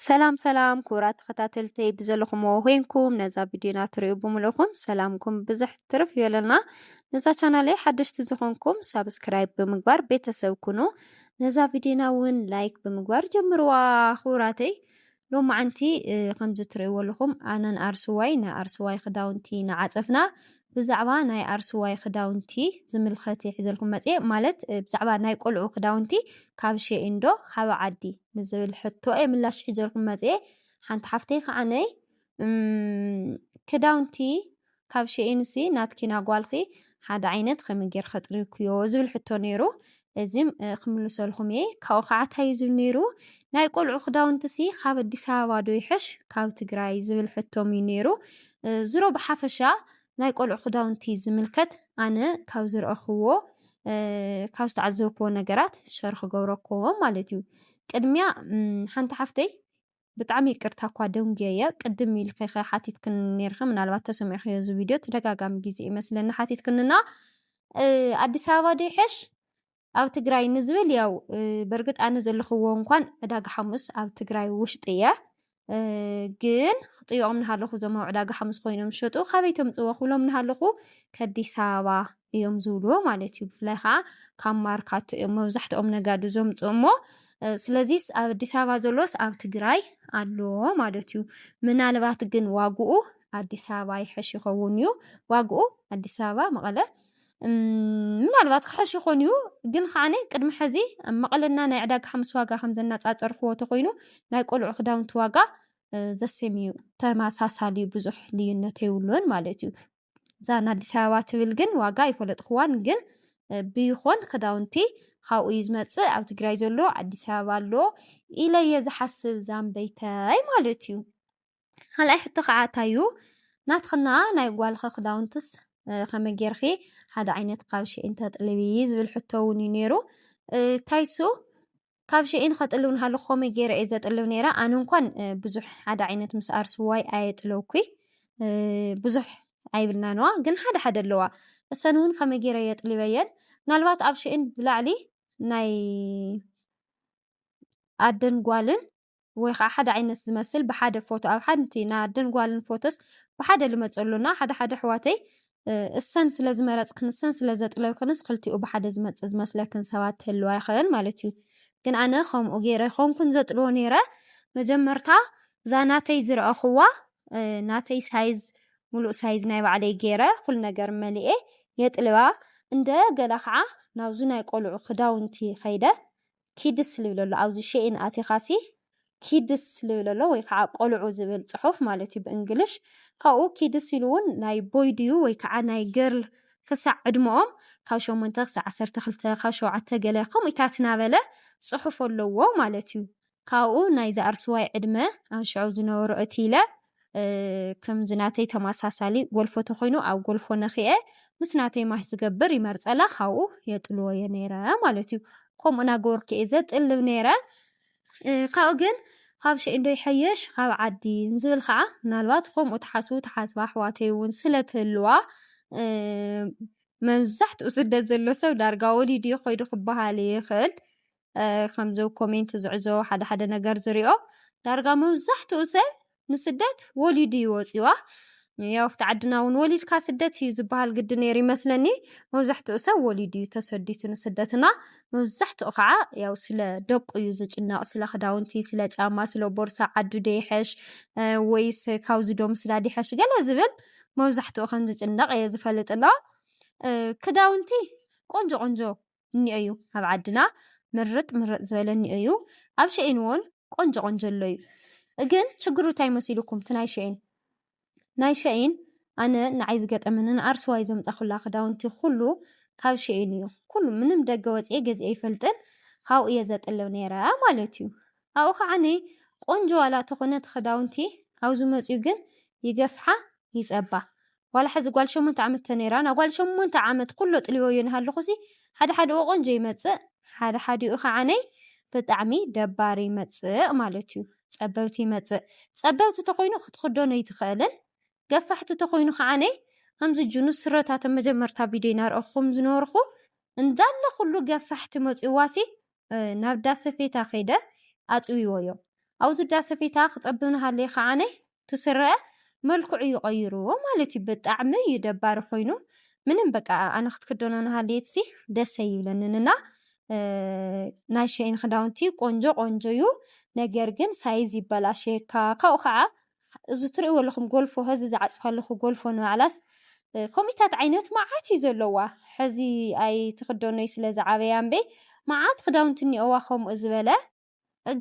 ሰላም ሰላም ክቡራት ተኸታተልተይ ብዘለኹምዎ ኮይንኩም ነዛ ቪድዮና ትሪኡ ብምልእኹም ሰላምኩም ብዝሕ ትርፍ ይበለና። ነዛ ቻናለይ ሓደሽቲ ዝኾንኩም ሳብስክራይብ ብምግባር ቤተሰብ ኩኑ። ነዛ ቪድዮና እውን ላይክ ብምግባር ጀምርዋ ክቡራተይ። ሎማዓንቲ ከምዚ ትሪእዎ ኣለኹም ኣነን ኣርሱዋይ ንኣርሱዋይ ክዳውንቲ ንዓፀፍና ብዛዕባ ናይ ኣርሱዋይ ክዳውንቲ ዝምልኸት እየ ሒዘልኩም መፅየ ማለት ብዛዕባ ናይ ቆልዑ ክዳውንቲ ካብ ሼኢን ዶ ካብ ዓዲ ንዝብል ሕቶ እየ ምላሽ ሒዘልኩም መፅየ ሓንቲ ሓፍተይ ከዓነይ ክዳውንቲ ካብ ሼኢንሲ ናትኪና ጓልኺ ሓደ ዓይነት ከመይ ጌርኸ ጥሪብክዮ ዝብል ሕቶ ነይሩ እዚ ክምልሰልኩም እየ ካብኡ ከዓ ታይ እዩ ዝብል ነይሩ ናይ ቆልዑ ክዳውንትሲ ካብ ኣዲስ ኣበባ ዶ ይሐሽ ካብ ትግራይ ዝብል ሕቶም እዩ ነይሩ ዝሮ ብሓፈሻ ናይ ቆልዑ ክዳውንቲ ዝምልከት ኣነ ካብ ዝረእክዎ ካብ ዝተዓዘብክዎ ነገራት ሸር ክገብረክዎ ማለት እዩ ቅድሚያ ሓንቲ ሓፍተይ ብጣዕሚ ይቅርታ እኳ ደንጉየየ ቅድም ኢልኪ ከ ሓቲትክኒ ነይርኪ ምናልባት ተሰሚዕክዮ እዚ ቪድዮ ተደጋጋሚ ግዜ እዩ መስለኒ ሓቲትክኒ እና ኣዲስ ኣበባ ዶ ይሐሽ ኣብ ትግራይ ንዝብል ያው በርግጥ ኣነ ዘለኽዎ እንኳን ዕዳጋ ሓሙስ ኣብ ትግራይ ውሽጢ እየ ግን ክጥይቖም ናሃለኹ እዞም ኣብ ዕዳጋ ሓሙስ ኮይኖም ዝሸጡ ካበይ ተምፅዎ ክብሎም ናሃለኹ ከዲስ ኣበባ እዮም ዝብልዎ ማለት እዩ ብፍላይ ከዓ ካብ ማርካቶ እዮም መብዛሕትኦም ነጋዲ ዘምፅኡ እሞ ስለዚ ኣብ ኣዲስ ኣበባ ዘሎስ ኣብ ትግራይ ኣሎ ማለት እዩ ምናልባት ግን ዋግኡ ኣዲስ ኣበባ ይሐሽ ይኸውን እዩ ዋግኡ ኣዲስ ኣበባ መቐለ ምናልባት ክሐሽ ይኾን እዩ ግን ከዓነ ቅድሚ ሕዚ ኣብ መቐለና ናይ ዕዳጋ ሓሙስ ዋጋ ከም ዘናፃፀርክዎ ተኮይኑ ናይ ቆልዑ ክዳውንቲ ዋጋ ዘሴም እዩ ተመሳሳሊ ብዙሕ ልዩነት የብሉን ማለት እዩ እዛ ንኣዲስ ኣበባ ትብል ግን ዋጋ ኣይፈለጥክዋን ግን ብይኾን ክዳውንቲ ካብኡ እዩ ዝመፅእ ኣብ ትግራይ ዘሎ ኣዲስ ኣበባ ኣሎ ኢለ እየ ዝሓስብ ዛምበይተይ ማለት እዩ ካልኣይ ሕቶ ከዓ እታዩ ናትክና ናይ ጓልኸ ክዳውንትስ ከመይ ጌርኺ ሓደ ዓይነት ካብ ሽዒን ተጥልቢ ዝብል ሕቶ እውን እዩ ነይሩ እታይሱ ካብ ሽይን ኸጥልው ንሃልኹ ኸመይ ገይረ እየ ዘጥልው ነይረ ኣነ እንኳን ብዙሕ ሓደ ዓይነት ምስ ኣርስዋይ ኣየጥለውኩይ ብዙሕ ኣይብልና ነዋ ግን ሓደ ሓደ ኣለዋ እሰን እውን ከመይ ገይረ የጥሊበየን ምናልባት ኣብ ሽይን ብላዕሊ ናይ ኣደን ጓልን ወይ ኸኣ ሓደ ዓይነት ዝመስል ብሓደ ፎቶ ኣብ ሓንቲ ናይ ኣደን ጓልን ፎቶስ ብሓደ ልመጹ ኣሎ እና ሓደ ሓደ ኣሕዋተይ እሰን ስለ ዝመረጽክን እሰን ስለ ዘጥለብክንስ ክልቲኡ ብሓደ ዝመጽእ ዝመስለክን ሰባት ትህልዋ ይኸን ማለት እዩ ግን ኣነ ከምኡ ገይረ ኣይኮንኩን ዘጥልዎ ነይረ መጀመርታ እዛ ናተይ ዝረኣኹዋ ናተይ ሳይዝ ሙሉእ ሳይዝ ናይ ባዕለይ ገይረ ኩሉ ነገር መሊኤ የጥልባ እንደ ገለ ኸዓ ናብዚ ናይ ቆልዑ ክዳውንቲ ኸይደ ኪድስ ልብል ኣሎ ኣብዚ ሼይን ኣቲኻሲ ኪድስ ልብል ኣሎ ወይ ከዓ ቆልዑ ዝብል ፅሑፍ ማለት እዩ ብእንግሊሽ ካብኡ ኪድስ ኢሉ እውን ናይ ቦይ ድዩ ወይ ከዓ ናይ ገርል ክሳዕ ዕድመኦም ካብ ሸሞንተ ክሳዕ ዓሰርተ ክልተ ካብ ሸውዓተ ገለ ከምኡታት እናበለ ፅሑፍ ኣለዎ ማለት እዩ ካብኡ ናይ ዛኣርስዋይ ዕድመ ኣብ ሽዑ ዝነበሩ እቲ ኢለ ክምዚ ናተይ ተማሳሳሊ ጎልፎ ተኮይኑ ኣብ ጎልፎ ነኪኤ ምስ ናተይ ማች ዝገብር ይመርጸላ ካብኡ የጥልዎ እየ ነይረ ማለት እዩ ከምኡ ናገበርኩ እየ ዘጥልብ ነይረ ካብኡ ግን ካብ ሸኢንዶ ይሐየሽ ካብ ዓዲ ንዝብል ከዓ ምናልባት ከምኡ ትሓስቡ ትሓስባ ኣሕዋተይ እውን ስለትህልዋ መብዛሕትኡ ስደት ዘሎ ሰብ ዳርጋ ወሊዱ እዩ ከይዱ ክበሃል ይኽእል ከምዚ ኮሜንት ዝዕዞ ሓደ ሓደ ነገር ዝሪኦ ዳርጋ መብዛሕትኡ ሰብ ንስደት ወሊዱ እዩ ወፂዋ ያው ኣብቲ ዓድና እውን ወሊድካ ስደት እዩ ዝበሃል ግዲ ነይሩ ይመስለኒ መብዛሕትኡ ሰብ ወሊዱ እዩ ተሰዲቱ ንስደትና መብዛሕትኡ ከዓ ያው ስለ ደቁ እዩ ዝጭነቕ ስለ ክዳውንቲ ስለ ጫማ ስለ ቦርሳ ዓዱ ደይሐሽ ወይስ ካብዚ ዶ ምስላ ዲሐሽ ገለ ዝብል መብዛሕትኡ ከም ዝጭነቕ እየ ዝፈልጥ ኣሎ ክዳውንቲ ቆንጆ ቆንጆ እኒኦዩ ኣብ ዓድና ምርጥ ምርጥ ዝበለ እኒኦዩ ኣብ ሸኤን ውን ቆንጆ ቆንጆ ኣሎዩ እግን ሽግሩ ታይ መሲሉኩም እቲ ናይ ሸኤን ናይ ሸኤን ኣነ ናዓይ ዝገጠመኒ ንኣርሱዋይ ዘምፃኩላ ክዳውንቲ ኩሉ ካብ ሸኤን እዩ ኩሉ ምንም ደገ ወፅኤ ገዚኤ ኣይፈልጥን ካብኡ እየ ዘጥልብ ነይረ ማለት እዩ ኣብኡ ካዓኒ ቆንጆ ዋላ ተኮነ እቲ ክዳውንቲ ኣብዙ መፅዩ ግን ይገፍሓ ይፀባ ዋላ ሐዚ ጓል ሸሞንተ ዓመት ተነይራ ናጓል ሸሞንተ ዓመት ኩሉ ኣጥሊወዮ ናሃለኹሲ ሓደ ሓደኡ ቆንጆ ይመፅእ ሓደ ሓዲኡ ኻዓነይ ብጣዕሚ ደባሪ ይመፅእ ማለት እዩ ፀበብቲ ይመፅእ ፀበብቲ ተኾይኑ ኽትኽደኖ ኣይትኽእልን ገፋሕቲ ተኾይኑ ኻዓነይ ኣምዚ ጅኑ ስረታተ መጀመርታ ቪድዮይ ናርኣኹኹም ዝነበርኹ እንዳለ ኹሉ ገፋሕቲ መፅዩዋሲ ናብ ዳሰፌታ ኸይደ ኣፅዊዎዮ ኣውዚ ዳሰፌታ ኽፀብብ ናሃለየ ኻዓነይ እቲ ስረ መልክዑ እዩ ቀይርዎ ማለት እዩ ብጣዕሚ እዩ ደባሪ ኮይኑ ምንም በቃ ኣነ ክትክደኖ ናሃለየትሲ ደስ ኣይብለንን እና ናይ ሸይን ክዳውንቲ ቆንጆ ቆንጆ እዩ ነገር ግን ሳይዝ ይበላሸየካ ካብኡ ከዓ እዚ ትርእይዎ ኣለኹም ጎልፎ ሀዚ ዝዓፅፋ ኣለኹ ጎልፎ ንባዕላስ ከምኡታት ዓይነት መዓት እዩ ዘለዋ ሐዚ ኣይትክደኖይ ስለ ዝዓበያ እምበይ መዓት ክዳውንቲ እኒኦዋ ከምኡ ዝበለ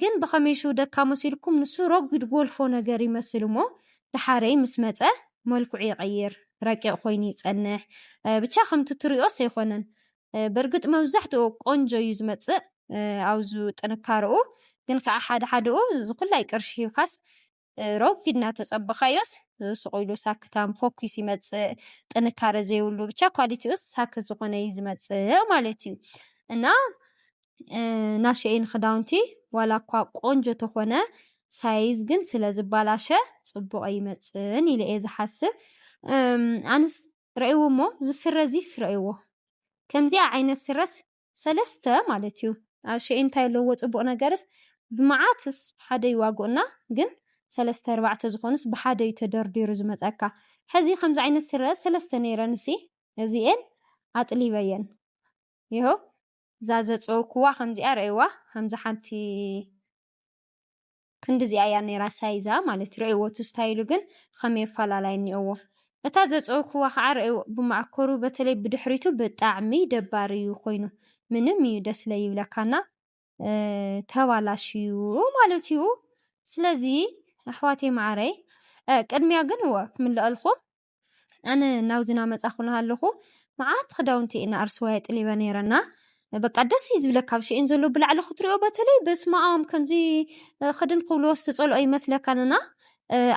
ግን ብኸመይ ሽው ደካ መሲልኩም ንሱ ረጒድ ጎልፎ ነገር ይመስል እሞ ደሓረይ ምስ መጸ መልክዑ ይቐይር ረቂቕ ኮይኑ ይጸንሕ ብቻ ከምቲ ትሪኦስ ኣይኮነን ብርግጥ መብዛሕትኡ ቆንጆ እዩ ዝመጽእ ኣብዙ ጥንካረኡ ግን ከኣ ሓደ ሓደኡ ዝኩላይ ቅርሺ ሂብካስ ረጒድ እናተጸበኻዮስ ስቕ ኢሉ ሳክታም ፎኪስ ይመጽእ፣ ጥንካረ ዘይብሉ ብቻ ኳሊቲኡስ ሳክት ዝኾነ እዩ ዝመጽእ ማለት እዩ። እና እና ሸይን ኽዳውንቲ ዋላ እኳ ቆንጆ ተኾነ ሳይዝ ግን ስለ ዝባላሸ ጽቡቕ ኣይመጽእን ኢለ እየ ዝሓስብ። ኣንስ ረእይዎ እሞ እዚ ስረ እዚስ ረእይዎ ከምዚኣ ዓይነት ስረስ ሰለስተ ማለት እዩ ኣሸኤ እንታይ ኣለዎ ጽቡቅ ነገርስ ብመዓትስ ብሓደ ይዋግኡና ግን ሰለስተ ኣርባዕተ ዝኮኑስ ብሓደ እዩ ተደርዲሩ ዝመጸካ ሐዚ ከምዚ ዓይነት ስረ ሰለስተ ነይረንሲ እዚኤን ኣጥሊበየን ይሀው እዛ ዘጸወኩዋ ከምዚኣ ረኣይዋ ከምዚ ሓንቲ ክንድዚኣ እያ ነይራ ሳይዛ ማለት እዩ። ርኣይዎ እቲ ስታይሉ ግን ኸመይ ኣፈላላይ እኒኦዎ። እታ ዘጽወኩዋ ኸዓ ርኣይዎ ብማእከሩ በተለይ ብድሕሪቱ ብጣዕሚ ደባሪ እዩ ኾይኑ። ምንም እዩ ደስ ለይብለካ እና ተባላሽዩ ማለት እዩ። ስለዚ ኣሕዋተይ መዓረይ ቅድሚያ ግን እወ ክምለኣልኹም ኣነ ናብዚ ናመጻኹ ናሃለኹ መዓት ክዳውንቲ እየ ንኣርሱዋይ ኣጥሊበ ነይረ እና በቃ ደስ እዩ ዝብለካ ኣብ ሽኤን ዘሎ ብላዕሊ ክትሪኦ በተለይ በስመኣም ከምዚ ክድን ክብልዎስ ዝጸልኦ ይመስለካን እና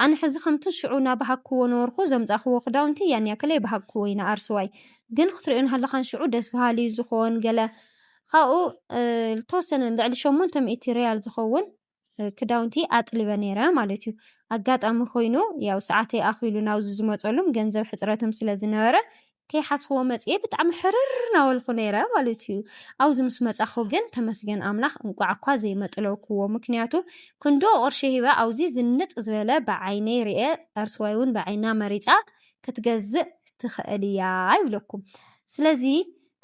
ኣነ ሕዚ ከምቲ ሽዑ ናባሃግክዎ ነበርኩ ዘምጻኽዎ ክዳውንቲ ያን ያክል ኣይባሃግክዎ እዩ ንኣርሱዋይ ግን ክትሪኦ ናሃለኻን ሽዑ ደስ በሃሊ እዩ ዝኾን ገለ ካብኡ ዝተወሰነ ልዕሊ ሸሞንተ ሚእቲ ሪያል ዝኸውን ክዳውንቲ ኣጥሊበ ነይረ ማለት እዩ። ኣጋጣሚ ኮይኑ ያው ሰዓተይ ኣኺሉ ናብዚ ዝመጸሉም ገንዘብ ሕጽረትም ስለ ዝነበረ ከይሓስኹዎ መጽኤ ብጣዕሚ ሕርር ናበልኩ ነይረ ማለት እዩ። ኣብዚ ምስ መጻኹ ግን ተመስገን ኣምላኽ እንቋዕ እኳ ዘይመጥለውክዎ ምክንያቱ ክንድኡ ቅርሺ ሂበ ኣብዚ ዝንጥ ዝበለ ብዓይነይ ርኤ ኣርስዋይ እውን ብዓይና መሪጻ ክትገዝእ ትኽእል እያ ይብለኩም ስለዚ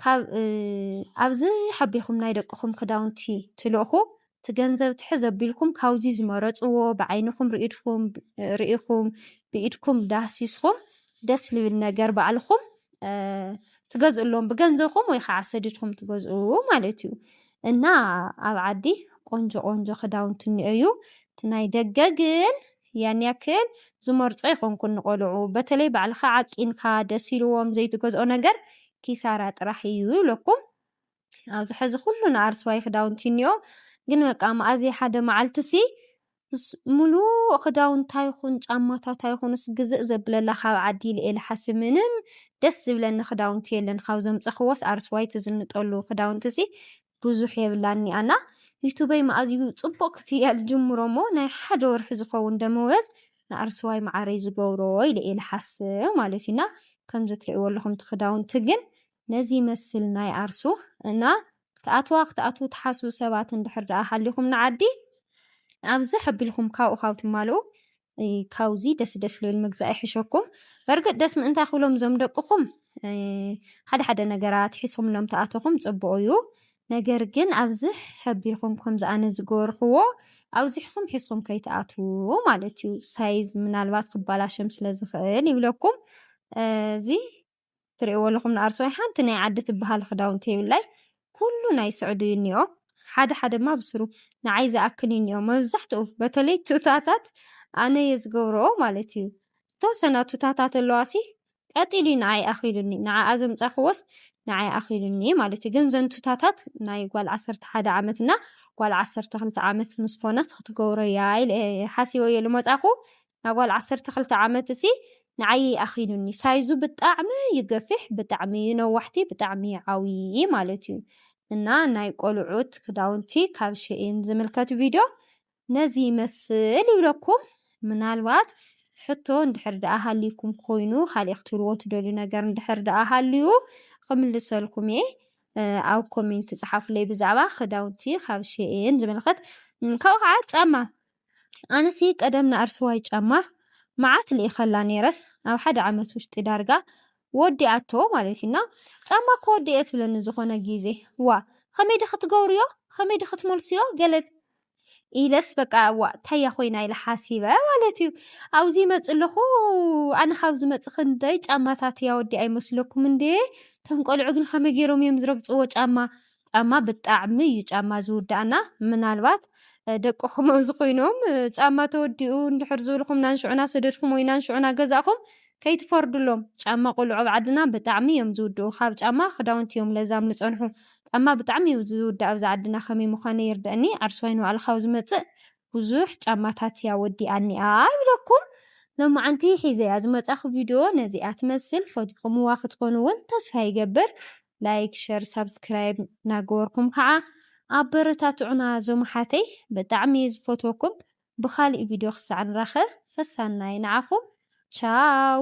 ካብ ኣብዚ ሓቢኹም ናይ ደቅኹም ክዳውንቲ ትልእኹ እቲ ገንዘብ ትሕዝ ኣቢልኩም ካብዚ ዝመረፅዎ ብዓይንኹም ርኢድኩም ርኢኹም ብኢድኩም ዳህሲስኹም ደስ ልብል ነገር ባዕልኹም ትገዝእሎም ብገንዘብኩም ወይ ከዓ ሰዲድኩም ትገዝኡ ማለት እዩ እና ኣብ ዓዲ ቆንጆ ቆንጆ ክዳውንቲ እኒኦ እዩ እቲ ናይ ደገ ግን ያን ያክል ዝመርጾ ኣይኮንኩን ንቆልዑ በተለይ ባዕልካ ዓቂንካ ደስ ኢልዎም ዘይትገዝኦ ነገር ኪሳራ ጥራሕ እዩ ይብለኩም ኣብዚ ሕዚ ኩሉ ንኣርስዋይ ክዳውንቲ እኒኦ ግን በቃ መኣዝየ ሓደ መዓልትሲ ምሉእ ክዳውንታ ይኹን ጫማታታ ይኹንስ ግዝእ ዘብለላ ካብ ዓዲ ኢለ ኢለ ሓስብ ምንም ደስ ዝብለኒ ክዳውንቲ የለን ካብ ዘምፀኽዎስ ኣርስዋይ ትዝንጠሉ ክዳውንትሲ ብዙሕ የብላን እኒኣና ዩቱበይ መኣዝዩ ፅቡቕ ክፍያል ጅምሮ እሞ ናይ ሓደ ወርሒ ዝኸውን ደመወዝ ንኣርስዋይ መዓረይ ዝገብሮ ኢለ ኢለ ሓስብ ማለት እዩና ከምዚ ትሪእዎ ኣለኹም እቲ ክዳውንቲ ግን ነዚ ይመስል ናይ ኣርሱ እና ክትኣትዋ ክትኣትዉ ትሓስቡ ሰባት እንድሕር ደኣ ሃሊኹም ንዓዲ ኣብ ዝሕ ኣቢልኩም ካብኡ ካብ ትማልኡ ካብዚ ደስ ደስ ልብል ምግዛእ ይሕሸኩም በርግጥ ደስ ምእንታይ ክብሎም እዞም ደቅኹም ሓደ ሓደ ነገራት ሒስኹምሎም ተኣተኹም ጽቡቕ እዩ ነገር ግን ኣብዚ ሕቢልኩም ከም ዝኣነ ዝገበርክዎ ኣብዚሕኹም ሒስኹም ከይትኣትዉ ማለት እዩ ሳይዝ ምናልባት ክባላሸም ስለ ዝኽእል ይብለኩም እዚ ትሪእዎ ኣለኹም ንኣርሶይ ሓንቲ ናይ ዓዲ ትበሃል ክዳውንቲ የብላይ ኩሉ ናይ ስዑዲ እዩ እኒኦ ሓደ ሓደ ድማ ብስሩ ንዓይ ዝኣክል እዩ እኒኦ መብዛሕትኡ በተለይ ቱታታት ኣነ እየ ዝገብረኦ ማለት እዩ ተወሰና ቱታታት ኣለዋሲ ቀጢሉ እዩ ንዓይ ኣኺሉኒ ንዓኣ ዘምፃኽዎስ ንዓይ ኣኺሉኒ ማለት እዩ ግን ዘን ቱታታት ናይ ጓል ዓሰርተ ሓደ ዓመት እና ጓል ዓሰርተ ክልተ ዓመት ምስ ኮነት ክትገብሮ እያ ኢለ ሓሲበ እየ ዝመፃኹ እታ ጓል ዓሰርተ ክልተ ዓመት እሲ ንዓይ ይኣኺሉኒ ሳይዙ ብጣዕሚ እዩ ገፊሕ ብጣዕሚ እዩ ነዋሕቲ ብጣዕሚ እዩ ዓውዪ ማለት እዩ እና ናይ ቆልዑት ክዳውንቲ ካብ ሸኢን ዝምልከት ቪድዮ ነዚ ይመስል ይብለኩም ምናልባት ሕቶ እንድሕር ደኣ ሃልዩኩም ኮይኑ ካልእ ክትብልዎ ትደልዩ ነገር እንድሕር ደኣ ሃልዩ ክምልሰልኩም እየ ኣብ ኮሜንት ጽሓፉለይ ብዛዕባ ክዳውንቲ ካብ ሸኢን ዝምልከት ካብኡ ከዓ ጫማ ኣነሲ ቀደም ንኣርሱዋይ ጫማ መዓት ልኢኸላ ኔረስ ኣብ ሓደ ዓመት ውሽጢ ዳርጋ ወዲኣቶ ማለት እዩ እና ጫማ እኮ ወዲኤ ትብለኒ ዝኾነ ግዜ ዋእ ኸመይ ዶ ኽትገብርዮ ኸመይ ዶ ኽትመልስዮ ገለ ኢለስ በቃ ዋእ ታያ ኾይና ኢለ ሓሲበ ማለት እዩ ኣብዚ ይመፅእ ኣለኹ ኣነ ካብ ዝመፅእ ኽንደይ ጫማታት እያ ወዲኣ ይመስለኩም እንዴ እቶም ቆልዑ ግን ኸመይ ገይሮም እዮም ዝረግፅዎ ጫማ ጫማ ብጣዕሚ እዩ ጫማ ዝውዳኣና ምናልባት ደቅኹም ኣብዚ ኮይኖም ጫማ ተወዲኡ እንድሕር ዝበልኹም ናንሽዑ ናሰደድኩም ወይ ናንሽዑ ናገዛእኹም ከይትፈርድሎም ጫማ ቆልዑ ኣብ ዓድና ብጣዕሚ እዮም ዝውድኡ ካብ ጫማ ክዳውንቲ እዮም ለዛም ልጸንሑ ጫማ ብጣዕሚ እዩ ዝውዳእ ኣብዚ ዓድና ከመይ ምዃነ ይርደእኒ ዓርሰዋይ ንባዕልኻ ኣብ ዝመጽእ ብዙሕ ጫማታት እያ ወዲኣኒኣ ይብለኩም። ሎማዓንቲ ሒዘያ ዝመጻኹ ቪድዮ ነዚኣ ትመስል ፈቲኹምዋ ክትኮኑ ውን ተስፋ ይገብር ላይክ ሸር ሳብስክራይብ ናገበርኩም ካዓ ኣበረታትዑና ዞም ኣሓተይ ብጣዕሚ እየ ዝፈትወኩም ብካሊእ ቪድዮ ክሳዕ ንራከብ ሰሳናይ ናዓኩም ቻው።